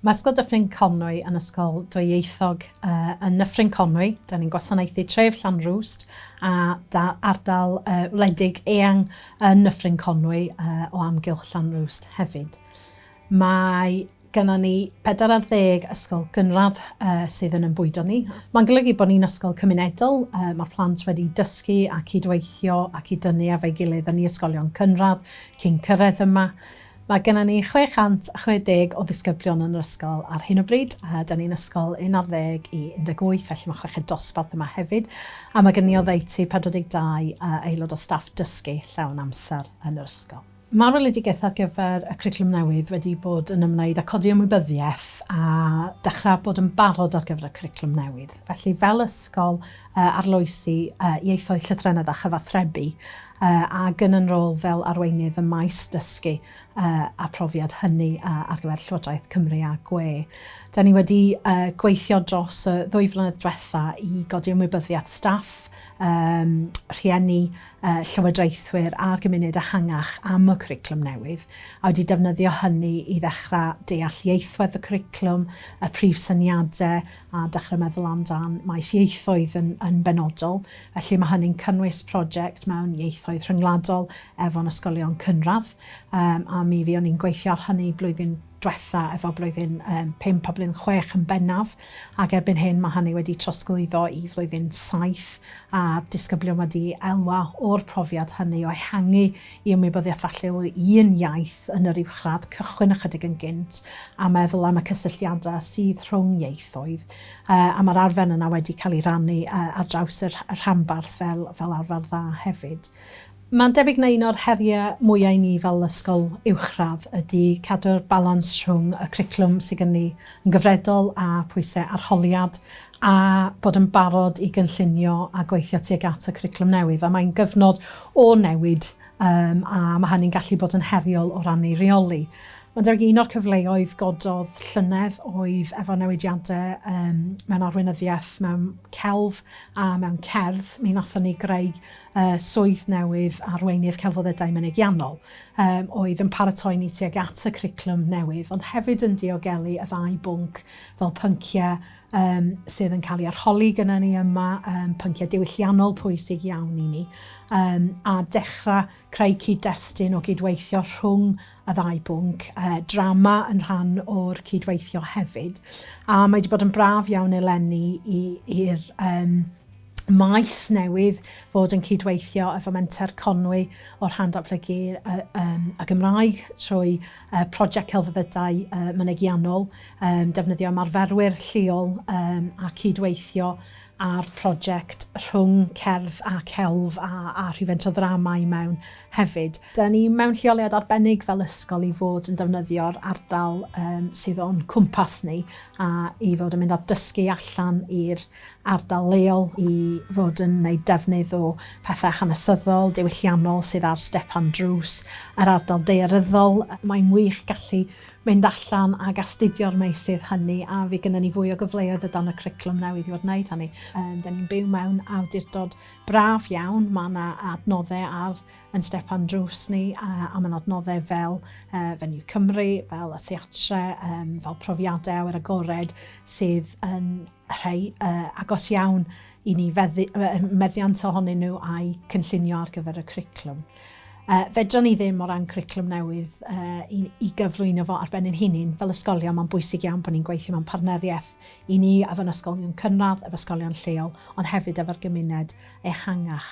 Masgo Dyffryn Conwy yn Ysgol Dwyieithog yn Nyffryn Conwy. Da ni'n gwasanaethu tref Llanrwst a da- ardal yy wledig eang yn Nyffryn Conwy yy o amgylch Llanrwst hefyd. Mae gynnon ni bedwar ar ddeg ysgol gynradd yy sydd yn 'yn bwydo ni. Ma'n golygu bo' ni'n ysgol cymunedol, yy ma'r plant wedi dysgu a cyd-weithio a cyd-dynnu efo'i gilydd yn i ysgolion cynradd cyn cyrredd yma. Mae gennym ni 660 o ddisgyblion yn yr ysgol ar hyn o bryd, a 'da ni'n ysgol un ar ddeg i 18, felly mae chweched dosbarth yma hefyd, a mae gennym ni oddeutu 42 aelod o staff dysgu llawn amser yn yr ysgol. Mae'r weledigaeth ar gyfer y cwricwlwm newydd wedi bod yn ymwneud â codi ymwybyddiaeth a dechrau bod yn barod ar gyfer y cwricwlwm newydd. Felly, fel ysgol, arloesi ieithoedd, llythrennedd a chyfathrebu, ac yn yn rôl fel Arweinydd ym maes Dysgu a Phrofiad, hynny ar gyfer Llywodraeth Cymru a gwe. Da ni wedi gweithio dros y ddwy flynedd dwetha i godi ymwybyddiaeth staff, rhieni, llywodraethwyr a'r gymuned ehangach am y cwricwlwm newydd, a wedi defnyddio hynny i ddechrau deall ieithwedd y cwricwlwm, y prif syniadau, a dechrau meddwl amdan maes ieithoedd yn benodol. Felly mae hynny'n cynnwys project mewn ieithoedd rhyngwladol efo'n ysgolion cynradd, yym a mi fuon ni'n gweithio ar hynny blwyddyn dwetha efo blwyddyn yym pump a blwyddyn chwech yn bennaf, ac erbyn hyn mae hynny wedi trosglwyddo i flwyddyn saith, a'r disgyblion wedi elwa o'r profiad hynny o ehangu i ymwybyddiaeth falle o un iaith yn yr uwchradd cychwyn ychydig yn gynt a meddwl am y cysylltiadau sydd rhwng ieithoedd. A mae'r arfer yna wedi cael ei rannu ar draws y rhanbarth fel arfer dda hefyd. Mae'n debyg na un o'r heriau mwyaf i ni fel ysgol uwchradd ydy cadw'r balans rhwng y cwricwlwm sydd gen ni yn gyfredol a phwysau arholiad a bod yn barod i gynllunio a gweithio tuag at y cwricwlwm newydd. A mae'n gyfnod o newid um, a mae hynny'n gallu bod yn heriol o ran ei reoli. Ond ar un o'r cyfleoedd gododd llynedd oedd efo newidiadau um, mewn arweinyddiaeth, mewn celf a mewn cerdd. Mi nathon ni greu uh, swydd newydd arweinydd celfoddedau mynegiannol um, oedd yn paratoi ni tuag at y criclwm newydd, ond hefyd yn diogelu y ddau bwnc fel pynciau um, sydd yn cael ei arholi gyda ni yma, um, pynciau diwylliannol pwysig iawn i ni, um, a dechrau creu cyd-destun o gydweithio rhwng y ddau bwnc, uh, drama yn rhan o'r cydweithio hefyd. A mae wedi bod yn braf iawn eleni i'r um, maes newydd fod yn cydweithio efo Menter Conwy o'r Rhan Datblygu y Gymraeg trwy Prosiect Celfyddydau Mynegiannol, defnyddio ymarferwyr lleol a cydweithio ar prosiect rhwng cerdd a celf a rhywfaint o ddrama i mewn hefyd. Dan ni mewn lleoliad arbennig fel ysgol i fod yn defnyddio'r ardal sydd o'n cwmpas ni a i fod yn mynd a dysgu allan i'r ardal leol i fod yn wneud defnydd o pethau hanesyddol, diwylliannol sydd ar stepan drws yr ardal daearyddol. Mae'n wych gallu mynd allan ac astudio'r meysydd hynny a fydd gynnon ni fwy o gyfleoedd o dan y cwricwlwm newydd i fod yn wneud hynny. Dan ni'n byw mewn awdurdod braf iawn, mae yna adnoddau ar ein stepan drws ni a mae'n adnoddau fel Venue Cymru, fel y theatrau, fel profiadau awyr agored sydd yn rhai agos iawn i ni, meddiant ohonyn nhw a'u cynllunio ar gyfer y cwricwlwm. Fedrwn ni ddim o ran cwricwlwm newydd i gyflwyno fo ar ben ein hunain fel ysgolion, mae'n bwysig iawn bod ni'n gweithio mewn partneriaeth i ni efo ein ysgolion cynradd, efo ysgolion lleol, ond hefyd efo'r gymuned ehangach.